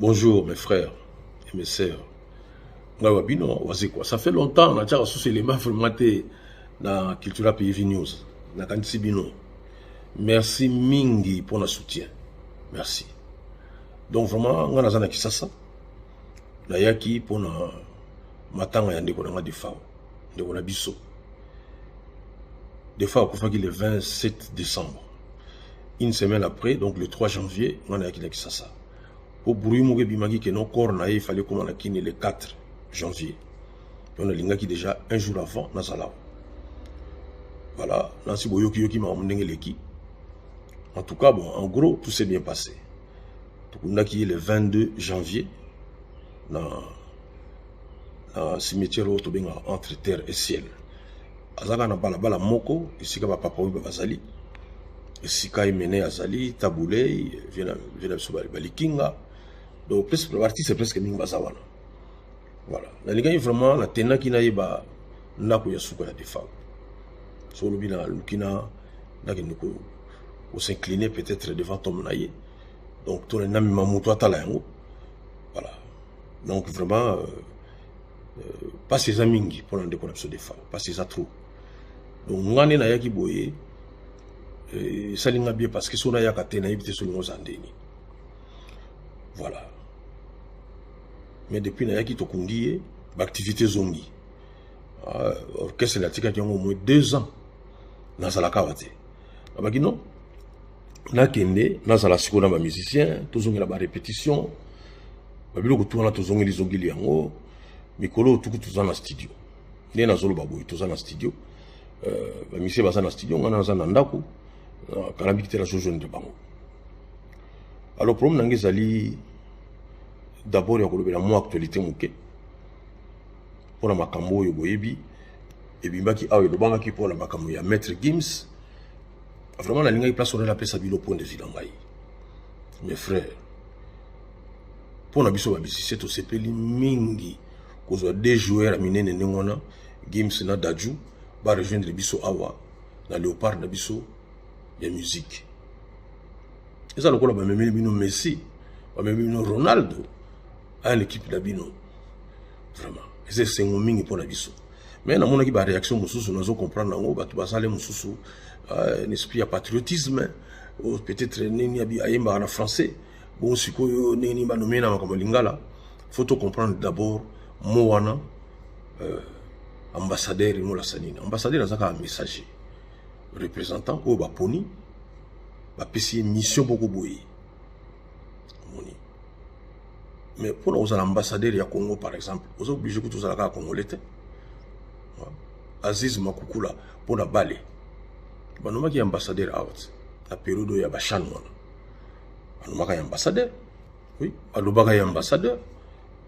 Bonjour mes frères et mes sœurs. Ngai wa bino wazekwa. Ça fait longtemps na tiaka susu elema vraiment te na Cultura PV News. Nakanisi bino. Merci mingi mpo na soutien. Merci. Donc vraiment ngai naza na Kisasa. Nayaki mpo na matanga ya ndeko na ngai Defao. Ndeko na biso. Defao akufaki le 27 décembre. une semaine après donc le 3 janvier nga nayaki na kisasa mpo bruit moko ebimaki ke non corps na ye efali ekoma na kini le 4 janvier donc nalingaki déjà un jour avant nazala voilà nansi boyokiyoki makambo ndenge eleki en tout cas bon en gros tout s'est bien passé tokundaki ye le 22 janvier na, na cimetière oyo tobengaka entre terre et ciel azalaka na balabala moko esika bapapa oyo bazali esika emene azali tabulei vie na biso balikinga donc baartiste presque mingi baza wana voilà nalingaki vraiment natendaki nayeba ndako ya suka ya defa so olobi na luki na nakende kosincline peut-être devant tome na ye donc tolandi namema moto atala yango voilà donc vraiment euh, euh, mpasi eza mingi mpo na ndeko na biso defa mpasi eza trop donc nga nde nayaki boye euh, esali nga bien parce que so nayaka te nayebi te so lingo oza ndeni voilà mais depuis nayaki tokundi ye baactivité ezongi euh, orchestre natikaki yango omoi deux ans nazalaka awa te abaki non nakende nazala sikoyo na bamusicien tozongela barépétition babiloko tu wana tozongeli zongeli yango mikolo oyo tuku toza na studio nde nazoloba boye toza na studio euh, bamisie baza na studio ngai naza na ndako kalambiki te nazojonde bango alors problème na ngai ezali d'abord ya kolobela mwa actualité moke mpo na makambo oyo boyebi ebimbaki awa elobamaki mpo na makambo ya maître gims vraiment nalingaki place wana napesa bino point de vue na ngai mes frères mpo na biso babisise tosepeli mingi kozwa deux joueurs ya minene ndenge wana gims na daju barejoindre biso awa na léopard na biso ya musique eza lokola bamemeli bino messi bamemeli bino ronaldo aya na ekipe na bino vraiment eza esengo mingi mpo na biso mais namonaki ba réaction mosusu nazo comprendre yango bato basale mosusu euh, un esprit ya patriotisme oh, peut-être nini ayembaka na français bon sikoyo ndenge nini banome na makambo ya lingala faut to comprendre d'abord mo wana euh, ambassadeur emolasa nini ambassadeur aza kaka messager représentant oyo baponi bapesi ye mission boko boye mais mpo na kozala ambassadeur ya congo par exemple oza oblige kutu ozala kaka congolais te aziz makukula mpo na bale banomaki ambassadeur awa te na periode oyo ya bachan wana alobaka ya ambassadeur oui alobaka ya ambassadeur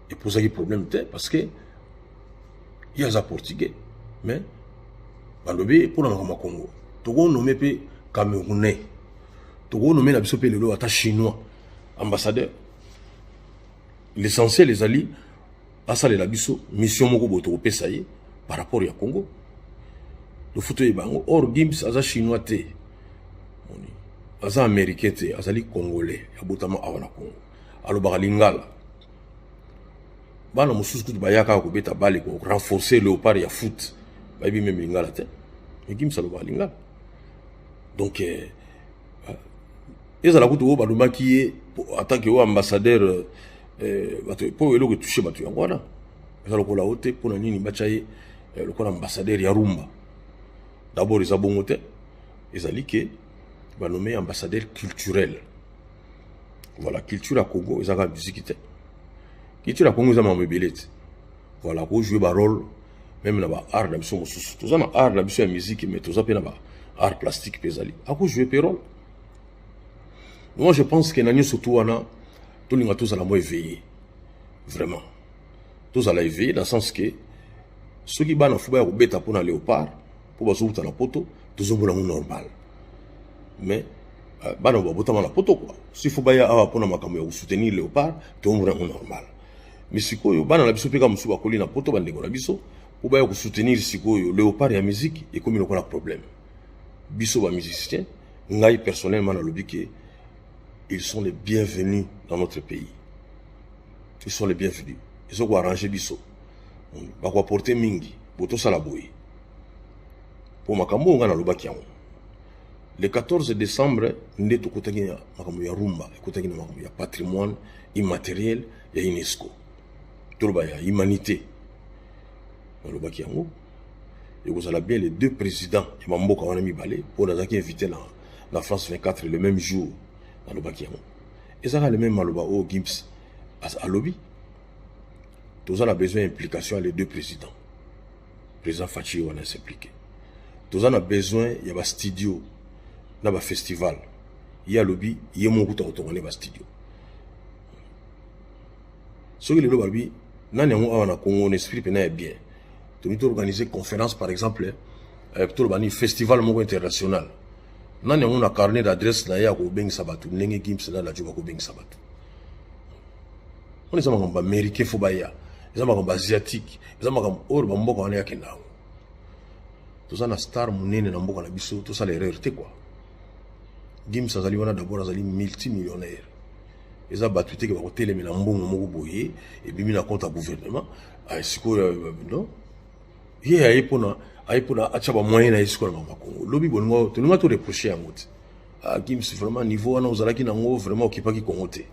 epozaki problème te parce que ye aza portugais mais balobi mpo na makambo ya congo tokonome mpe camerounais tokonome na biso mpe lelo ata chinois ambassadeur l'essentiel ezali asalela biso mission moko boye tokopesa ye par rapport ya congo lofuta oyeba yango or gims aza chinois te aza américain te azali congolais abotama awa na congo alobaka lingala bana mosusu kutu bayaka kobeta bale ko renforcer léopard ya foot bayebi meme lingala te mais gims alobaka lingala donc eh, ezala kutu oyo balumaki ye atanke oyo ambassadeur eh, bato mpo eloko etouche bato yango wana eza lokola o te mpo na nini batya ye eh, lokola ambassadeur ya rumba dabord eza bongo te ezali ke banome ambassadeur culturel voilà culture ya congo eza kaka miziki te culture ya congo eza makambo ebele te voilà ko jouer ba rôle même na ba art na biso mosusu toza na art na biso ya musique mais toza mpe na ba art plastique mpe ezali ako jouer mpe rôle moi je pense que na nyonso tu wana tolinga tozala mo éveillé vraiment tozala éveillé dans sens que soki bana fo baya kobeta mpo na léopard mpo bazowuta na poto tozomona yango normal mais euh, bana babotama na poto kua si fo baya awa mpo na makambo ya kosoutenir léopard tozomona yango normal mais sikoyo bana na biso mpe kaka mosusu bakoli na poto bandeko na biso mpo baya kosoutenir sikoyo leopard ya musique ekomi lokola problème biso ba musicien ngai personnellement nalobi ke ils sont les bienvenus dans notre pays ils sont les bienvenus ezo koarrange biso bakoaporte mingi botosala boye mpo makambo oyo ngai nalobaki yango le 14 décembre nde tokutaki na makambo ya rumba ekutaki na makambo ya patrimoine immateriel ya unesco toloba ya humanité nalobaki yango ekozala bien les deux présidents ya bamboka wana mibale oyo nazalaki invité na, na france 24 le même jour nalobaki yango ezalaka le même maloba oyo gims alobi toza na besoin ya implication ya les deux présidents Président Fatshi wana s'impliquer. Toza na besoin ya ba studio na ba festival. Ye alobi ye moko kuta kotonga ne ba studio. Soki lelo balobi nani yango awa na Congo na esprit pena ya bien. Tolingi to organiser conférence par exemple eh, toloba ni festival moko international. Nani yango na carnet d'adresse na ye akobengisa bato ndenge Gims na Lajo bakobengisa bato. Wana eza makambo ba Américain fo baya. eza makambo asiatique eza makambo oyo bamboka wana yakenda yango toza na star monene na mboka na biso tosala erreur te kua gims azali wana dabord azali multimillionnaire eza bato teke bakotelemela mbongo moko boye ebimi na compte ya gouvernement ah, sikoyo euh, non ye aye mpona aye mpona atya bamoyen na ye sikoyo na makongo lobi bolingo tolinga toreproche yango te ah, gims vraiment niveau wana ozalaki nango vraiment okipaki kongo te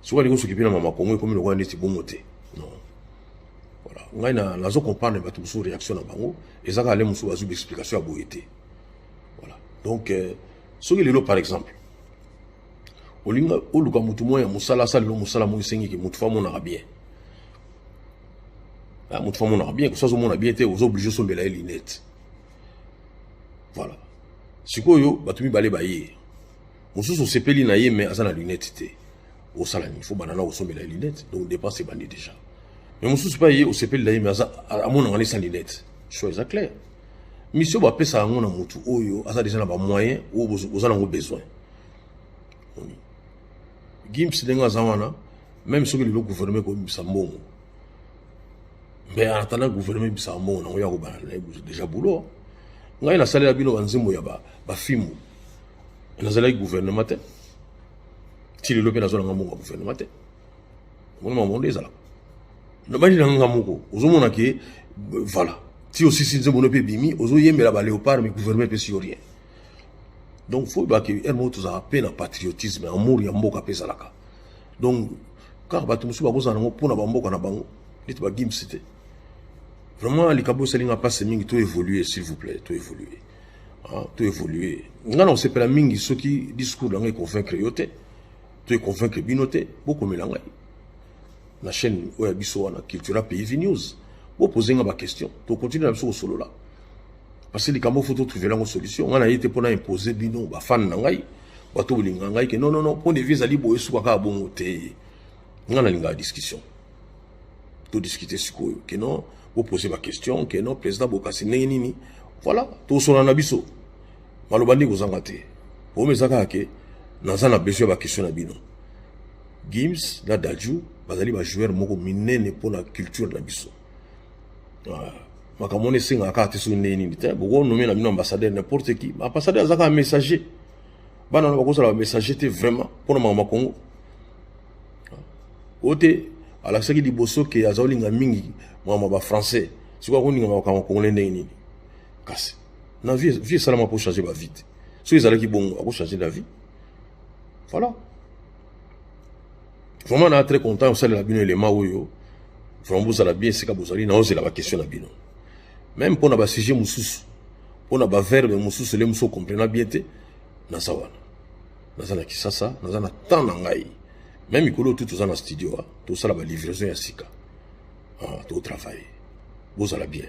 soki alingi osoki mpe na mama kongo ekomi lokola neti bongo te non voilà ngai nazo comprendre bato mosusu réaction na bango eza kaka le mosusu bazwi baexplication ya boye te voilà donc euh, soki lelo par exemple olinga oluka motu moko ya mosala asala lelo mosala moko esengiki motu fa amonaka bien ah, motu fa amonaka bien kosi azomona bien te oza oblige osombela ye linete voilà sikoyo bato mibale baye mosusu osepeli na ye mais aza na lunette te osala nini fo banda na kosombela ye lunette donc dépense ebandi déjà mais mosusu mpe ye osepeli na ye mais aza amonaka nde sans lunette choix eza clair mission bapesaka yango na motu oyo aza déjà na bamoyen oyo boza nango besoin gims ndenge aza wana meme soki lelo gouvernement ekobimisa mbongo mais en attendant gouvernement ebisaka mbongo nango ya kobanda na ye déjà boulot ngai nasalela bino banzembo ya bafimbu nazalaki gouvernement te ti lelo mpe nazolanga mbongo ya gouvernement te omoni makambo nde ezalaka nabandi na nga moko ozomona ke voilà ti osisi nzembo no mpe ebimi ozoyembela baleopard mais gouvernement epesi yo rien donc fo oyebaka ere moko tozalaka mpe na patriotisme amour ya mboka mpe ezalaka donc kaka bato mosusu bakozala nango mpo na bamboka na bango neti bagims te vraiment likambo esali nga mpasi mingi to évolue s'il vous plaît to évolue ah, to évolue nga na kosepela mingi soki discours na ngai econvaincre yo te to econvaincre bino te bokomela ngai na chaîne oyo ya biso wana cultura pays vi news bopose nga baquestion tokontinue na biso kosolola parce que likambo fo totrouve lango solution nga na ye te mpo na impose bino bafane na ngai bato bolinga ngai ke nonono mpo na evi ezali boye suka kaka bongo te ngai nalingaka discussion todiscute sikoyo ke non bopose baquestion ke non président bokasi ndenge nini voilà tosona na biso maloba nde kozanga te oyo eza kaka ke naza na besoin ya baquestion na bino gims na daju bazali bajoueur moko minene mpo na culture na biso ah, makambo wana esengaka kaka te soki ndenge nini te bokonomela bino ambassadeur n'importe qui ambassadeur aza kaka messager bana wana bakozala bamessager te vraiment mpo na makambo ya congo oyo te alakisaki liboso ke aza kolinga mingi makambo ya bafrançais sikoyo akolinga makambo ya congolais ndenge nini kasi na vie vie esalama mpo changer bavie te soki ezalaki bongo akochanger la vie voilà vraiment na très content osalela bino elema oyo vraiment bozala bien esika bozali naozela baquestion na bino meme mpo na basujet mosusu mpo na baverbe mosusu ele mosusu okomprena bien te naza wana naza na kisasa naza na temps na ngai me mikolo oyo tu toza na studio ah, tosala balivraison ya sika ah, totravaille bozala bien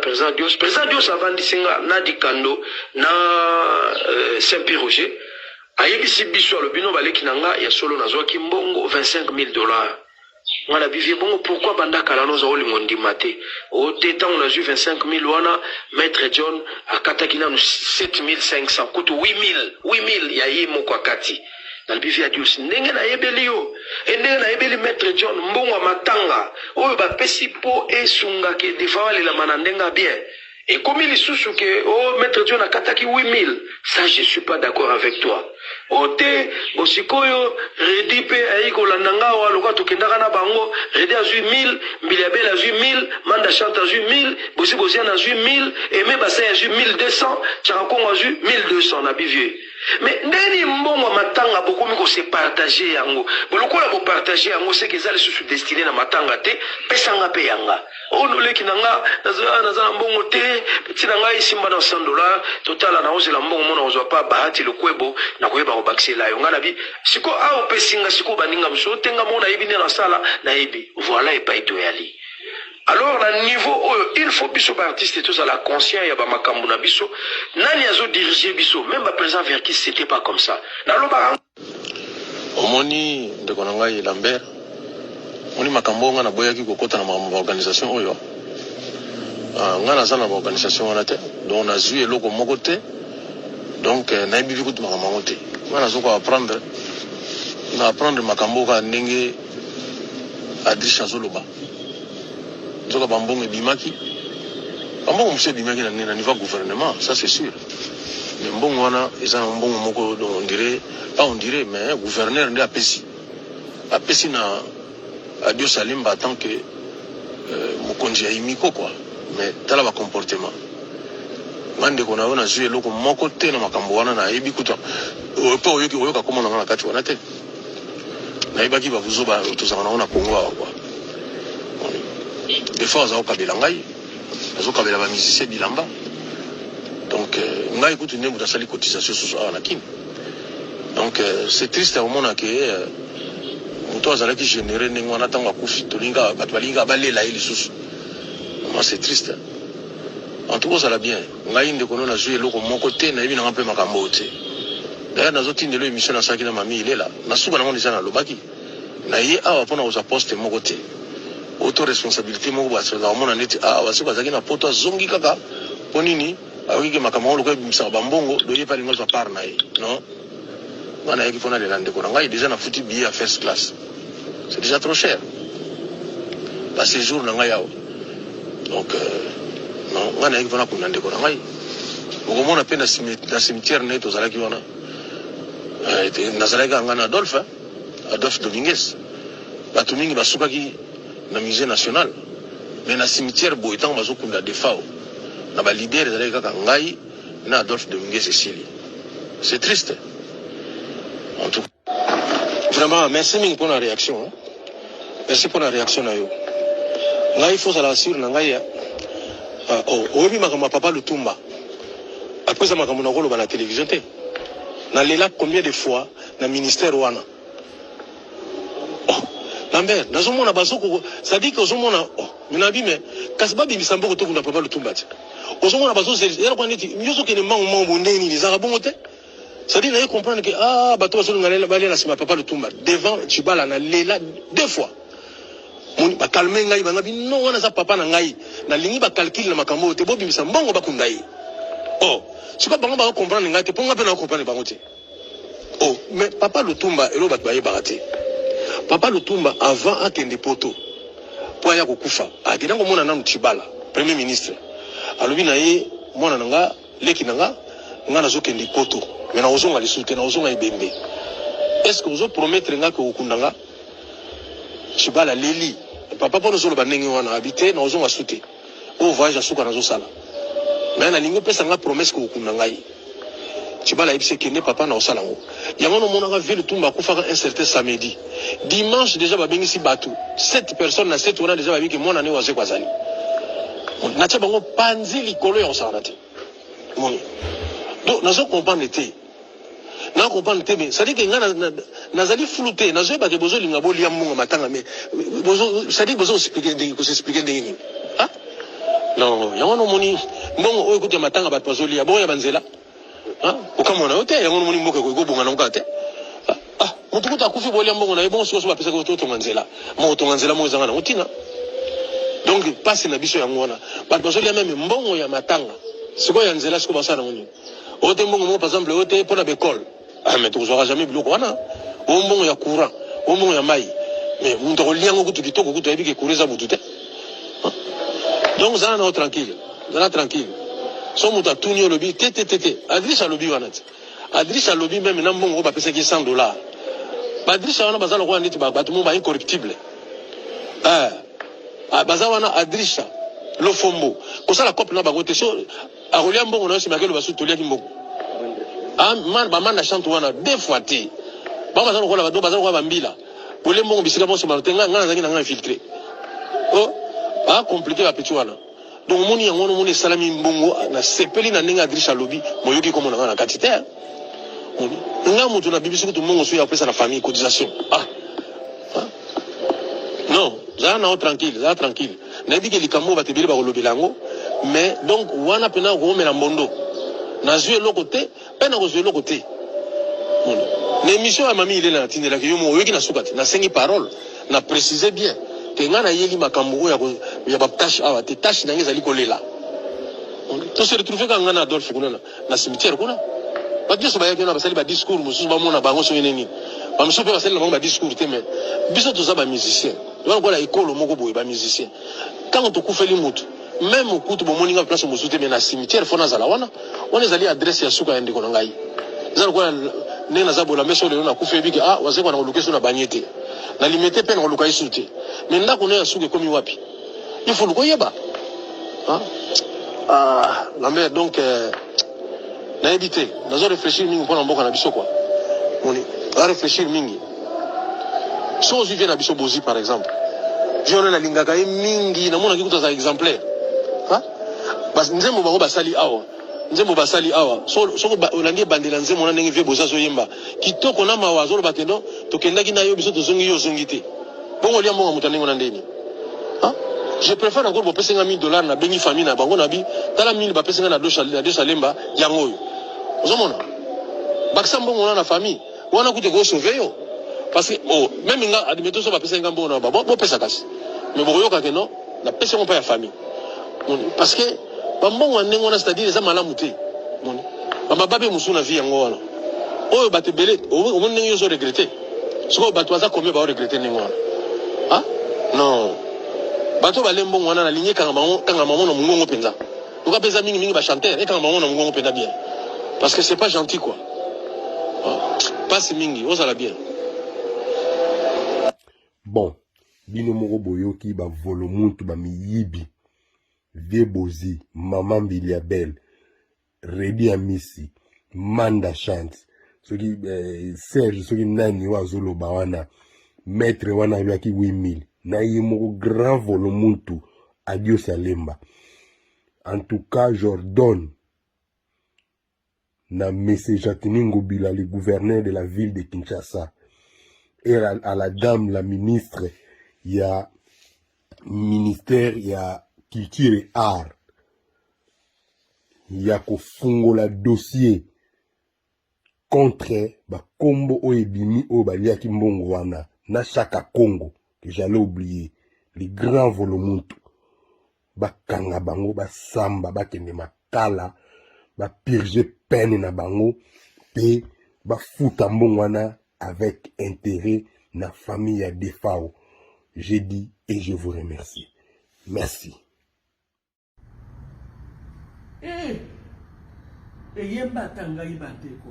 President Dios, President Dios avandisi nga na Dikando na euh, Saint Pierre Roger ayebisi biso alobi no baleki na nga ya solo nazwaki mbongo 25000 dollars nga na bivie bongo pourquoi banda kala noza olinga ondima te o oh, te ntango nazwi 25000 wana maître john akataki nanu 7500 kutu 8000 8000 ya ye moko akati nalobi via dios ndenge nayebeli yo e ndenge nayebeli maître john mbongo ya matanga oyo bapesi mpo esunga ke defawa lelama na ndenge ya bien ekomi lisusu ke o oh, maître john akataki 8000 ça je suis pas d'accord avec toi o oh, te bosikoyo redi mpe ayei kolanda nga awa lokola tokendaka na bango redi azwi 1000 mbili ya bele azwi 1000 manda chante azwi 1000 bosi boziana azwi 1000 eme basai azwi 1200 chaka kongo azwi 1200 na bivie Mais ndeni mbongo ya matanga bokomi ko se partager yango bo lokola bo partager yango seke eza lisusu destine na matanga te pesa nga pe ya nga oh no leki na nga naza naza na mbongo te ti na nga esimba na 100 dollars totala na ozela mbongo mona ozwa pa bahati lokwebo na koyeba ko bakisela yo nga na bi siko a opesi nga siko baninga mosusu te nga mona yebi nde na sala na yebi voilà epai toyali Alors na niveau oyo il faut biso ba artistes tozala conscient ya ba makambu na biso nani azo diriger biso meme ba president verkis c'etait pas comme ça na lobaka omoni ndeko na ngai Lambert omoni makambo oyo ngai naboyaki kokota na makambo ba organisation oyo ah, ngai naza na ba organisation wana te donc nazwi eloko moko te donc eh, nayebi bi kutu makambo yango te ngai nazoka apprendre na apprendre makambo oyo kaka ndenge adriche azoloba Nzoka ba mbongo ebimaki, ba mbongo mosusu ebimaki na nini, na niveau ya gouvernement, ça c'est sûr. Mais mbongo wana eza na mbongo moko donc on dirait pas on dirait mais gouverneur nde apesi apesi na Adio Salimba en tant que euh, mokonzi ya Imiko quoi. Mais tala ba comportement nga ndeko na yo nazwi eloko moko te na makambo wana nayebi kuta mpe oyoki oyoka komona nga na kati wana te nayebaki ba buzoba tozalaka nango na Congo awa kwa des fois aza kokabela ngai azokabela ba musicien bilamba donc euh, ngai kutu nde moto asali cotisation susu awa na kin donc euh, c'est triste ya komona ke euh, moto azalaki généré ndenge wana ntango akufi tolinga bato balingi kaka balela ye lisusu vraiment c'est triste en tout cas ozala bien Ngai ndeko no nazui eloko moko te nayebi nanga mpe makambo oyo te daya nazotindelo emission nasalaki na mami ilela na suka nango deja nalobaki na ye awa mpo na kozwa poste moko te oto responsabilite moko basolaka komona neti awa basi bazalaki na poto azongi kaka mpo nini ayoki ke makambo yango lokola ebimisaka bambongo doye mpe alingi azwa part na ye non nga nayaki mpo nalela ndeko na ngai deja nafuti billet ya first class c'est déjà trop cher ba séjour na ngai awa donc euh, non nga nayaki mpo nakunda ndeko na ngai okomona mpe na cime- na cimetière na ye tozalaki wana Eh, te- nazalaki kaka ngai na adolphe hein, adolphe domingues bato mingi basukaki na musée national mais na cimetière boye ntango bazokunda defao na balidere ezalaki kaka ngai na Adolphe Dominguez esili c'est triste en tout vraiment merci mingi pona réaction hein. merci pona réaction na yo ngai faut ozala sur na ngai uh, oh, oyebi makambo ya papa lutumba apesa makambo na koloba na télévision te nalela combien de fois na ministère wana Lambert, nazomona bazoko c'est-à-dire que ozomona oh, minabi mais kasi babimisa mboko to kuna papa lutumba ti. Ozomona bazozeli yala kwa neti nyoso kende mango mango bondeni ni zaka bongo te. C'est-à-dire naye comprendre que ah bato bazolunga lela balela sima papa lutumba devant Chibala na lela deux fois. Moni bakalme ngai banga bino wana za papa na ngai nalingi bakalkile na makambo oyo te bobimisa mbongo bakunda ye. Oh, sikoyo bango bako comprendre ngai te mpo ngai mpe nako comprendre bango te. Oh, mais papa Lutumba, elo bat baye barate. Papa Lutumba, avant akende poto, po aya kokufa, akenda komona nanu Tshibala, premier ministre. Alobi na ye, mwana na nga, leki na nga, nga nazokende poto, mais nakozonga lisusu te, nakozonga ebembe. Est-ce que ozo promettre nga que okokunda nga? Tshibala aleli. Papa, pona ozoloba ndenge wana? Abi te, nakozonga su te. Oyo voyage ya suka nazosala. Mais nalingi opesa nga promesse ko okunda ngai. Tshibala ayebisi kende papa na osala ngo. Yango no monaka ville tumba akufaka un certain samedi. Dimanche déjà babengisi batu 7 personnes na 7 wana déjà bayebi que mwana ne wazekwa azali. Natia bango panzi likolo ya kosakana te. donc nazo comprendre te na comprendre te mais cest que nga nazali flou te nazoyeba ke bozolinga bolia mbongo matanga mais cest bozo explique ndenge kosexplike ndenge nini ah? non yango wana omoni mbongo oyo ekuti ya matanga bato bazolia bongo ya banzela ah? okamwana yo te yango omoni mboka ekoki kobonga nango kaka te Ah, mutu kutu akufi bolia mbongo na ye bongo sikoyo bapesaki yo totonga nzela ma kotonga nzela moko ezanga nango ntina donc mpasi na biso yango wana bato bazolia meme mbongo ya matanga sikoyo ya nzela sikoyo basala nango nini oyo te mbongo moko par exemple oyo te mpo na baekole ah, mais tokozwaka jamais biloko wana oyo mbongo ya courant oyo mbongo ya mai mais moto akolia yango kutu kitoko kutu ayebi ke courant eza butu te ah. donc zala nao tranquille zala tranquille so moto atuni olobi te te te te adrise alobi wana te Adricha alobi meme na mbongo oyo bapesaki ye 100 dollars. Badricha wana baza lokola neti bato moko ba incorruptible. Eh, ah, baza wana Adricha lofombo kosala cope na bango te so akolia mbongo na yo nsima akeloba susu toliaki mbongo ah, bamanda chante wana deux fois te bango baza lokola bato baza lokola bambila kolie mbongo bisika bonso mano te ngai nazalaki na ngai infiltre o oh, acomplike ah, bapeti wana Donc moni yango wana moni esalami mbongo na sepeli na ndenge Adriche alobi moyoki komona nga na kati te hein. moni nga moto na bibisi kutu mbongo soki apesa na famille cotisation ah hein? non zala nao tranquille zala tranquille nayebi ke likambo bato ebele bakolobela yango mais donc wana mpena okomela mbondo nazwi eloko te Eeh nakozwa eloko te Mona na emission ya mami ilela natindelaki yo moko oyoki na suka te nasengi parole na precise bien ke ngai nayeli makambo oyo ya ba tache awa te tache na ngai ezali kolela Mona to se retrouve kaka ngai na Adolphe kuna na, na cimetière kuna bato nyonso bayaki wana basali ba discours mosusu bamona bango soki nini bamosusu mpe basali na bango ba discours te mais biso toza ba musicien wana kola ekolo moko boye ba musicien ntango tokufeli motu Meme kutu bomoni nga place mosusu te mais na cimetière faut nazala wana. Wana ezali adresse ya suka ya ndeko na ngai. Eza lokola ndenge naza bola meso lelo na kufa ebiki ah wazekwa na koluka esu na banye te. Na limete pe na koluka esu te. Mais ndako na ya suka ekomi wapi? Il faut lukoyeba. Hein? Ah, Lambert donc euh, nayebi te. Nazo réfléchir mingi mpo na mboka na biso quoi. Moni, na réfléchir mingi. soki ozwi vie na biso bozi par exemple viole nalingaka ye mingi namonaki kutu aza exemplaire nzembo bango basali awa nzembo basali awa soki olandi ebandela nzembo na ndenge vie bozi azoyemba kitoko na mawa azoloba ke no tokendaki na yo biso tozongi yo ozongi te bongo olia mbongo moto ya ndenge na ndeni je préfère encore bopesi nga 1000 dollars nabengi famille na bango nabi tala 1000 bapesi nga na dosalemba yango oyo ozomona bakisa mbongo wana na famille wana kutu eko sauve yo parce que oh, meme nga admettons so bapesaki nga mbongo na ba bopesa kasi me bokoyoka ke non napesi yango mpa ya famille moni parce que bambongo ya ndenge wana c'est-à-dire eza malamu te moni bamababe mosusu na vie yango wana oyo bato ebele omoni ndenge yo ozo regrete sikoyo bato baza combien bao regrete ndenge wana ah non bato bale mbongo wana nalingi ekangama yango na mongongo mpenza Luka peza mingi mingi ba chanteur ekanga bango na mungongo peza bien. Parce que c'est pas gentil quoi. Ah, Passe mingi, ozala bien. Bon, bino moko boyoki ba volo muntu ba miyibi. Vie Bozi, Maman Biliabel, Redi Amisi, Manda Chance, soki eh, Serge soki nani oyo azoloba wana maître wana alobaki 8000 na ye moko grand volo muntu Adios ya Lemba. En tout cas, j'ordonne na M. Jatini Ngobila, le gouverneur de la ville de Kinshasa, et à, à la dame, la ministre, il y a ministère, il y a culture et art, il y a kofungola dossier contre bakombo oyo ebimi oyo baliaki mbongo wana na shaka congo que j'allais oublier le grand volomuntu bakanga bango basamba bakende makala bapurge peine na bango mpe bafuta mbongo wana avec intérêt na famille ya defao j'ai dit et je vous remercie merci Eh! eyembata ngai bandeko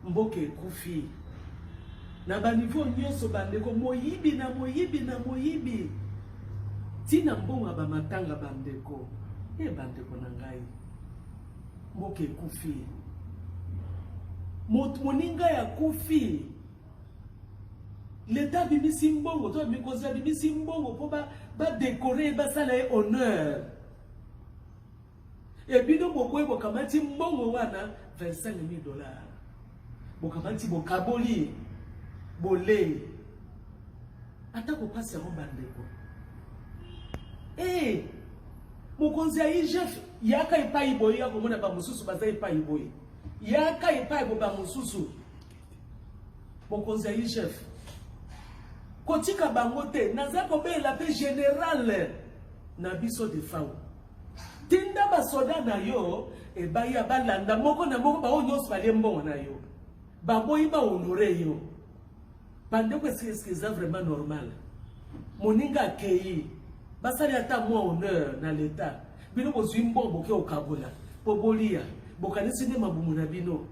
mboka ekufi na banivo nyonso bandeko moyibi na moyibi na moyibi ntina mbongo ya bamatanga bandeko e eh, bandeko na ngai mboka ekufi moninga ya kufi leta abimisi mbongo to mikonzi abimisi mbongo mpo badekore ye basala ye honneur ebino bokoyi bokamati mbongo wana 25 000 dollars bokamati bokaboli bolei ata kopasi yango bandeko ee eh, mokonzi ya igf yaka epai boye ya komona bamosusu baza epai boye yaka epai bo bamosusu mokonzi ya igf kotika bango te naza kobelela mpe generale na biso defau tinda basoda na yo ebaya balanda moko na moko baoyo nyonso balie mbongo na yo baboyi bahonore yo bandeko eske eza vraiment normal moninga akei basali ata mwa honneur na leta bino bozwi mbongo boke okabola mpo bolia bokanisi nde mabumu na bino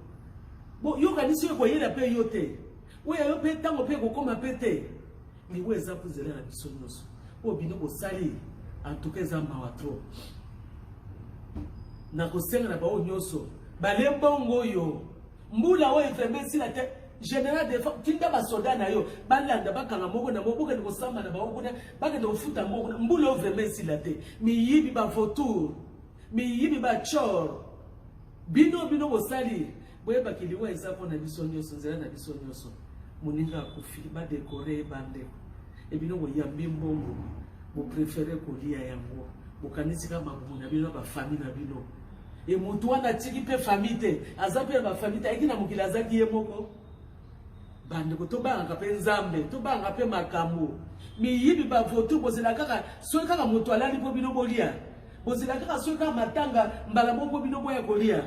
boyokanisi oyo ekoyela mpe yo te oyo ya yo mpe ntango mpe ekokoma mpe te miwo eza kozela na biso nyonso oyo bino bosali antuka eza mawa tro nakosenga na baoyo nyonso bale mbongo oyo mbula oyo vraimen esila te général de tinda basoda na yo balanda bakanga moko na moko bokende kosamba na bango kuna bakende kofuta moko na mbula oyo vraimen esila te miyibi bavotour miyibi bachor Bino bino bosali boyeba kiliwa eza mpo na biso nyonso nzela na biso nyonso moninga akufi badekore ye bandeko ebino boyambi mbongo boprefere kolia yango bokanisi kaka mabumu na bino na bafami na bino e motu wana atiki mpe fami te aza mpe na bafami te ayiki na mokili azaki ye moko bandeko tobangaka mpe nzambe tobangaka mpe makambo miyibi bavotu bozela kaka soki kaka motu alali mpo bino bolia Bozela kaka soki kaka matanga mbala moko bino boya kolia.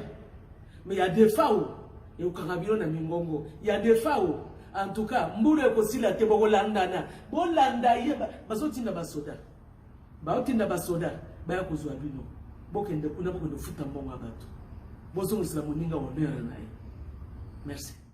Mais ya defao ekokanga bino na mingongo. Ya defao en tout cas mbulu ekosila te bokolandana. Bolanda ye bazotinda basoda. Baotinda basoda baya kozwa bino. Bokende kuna bokende kofuta mbongo ya bato. Bozongisela moninga honneur na ye. Merci.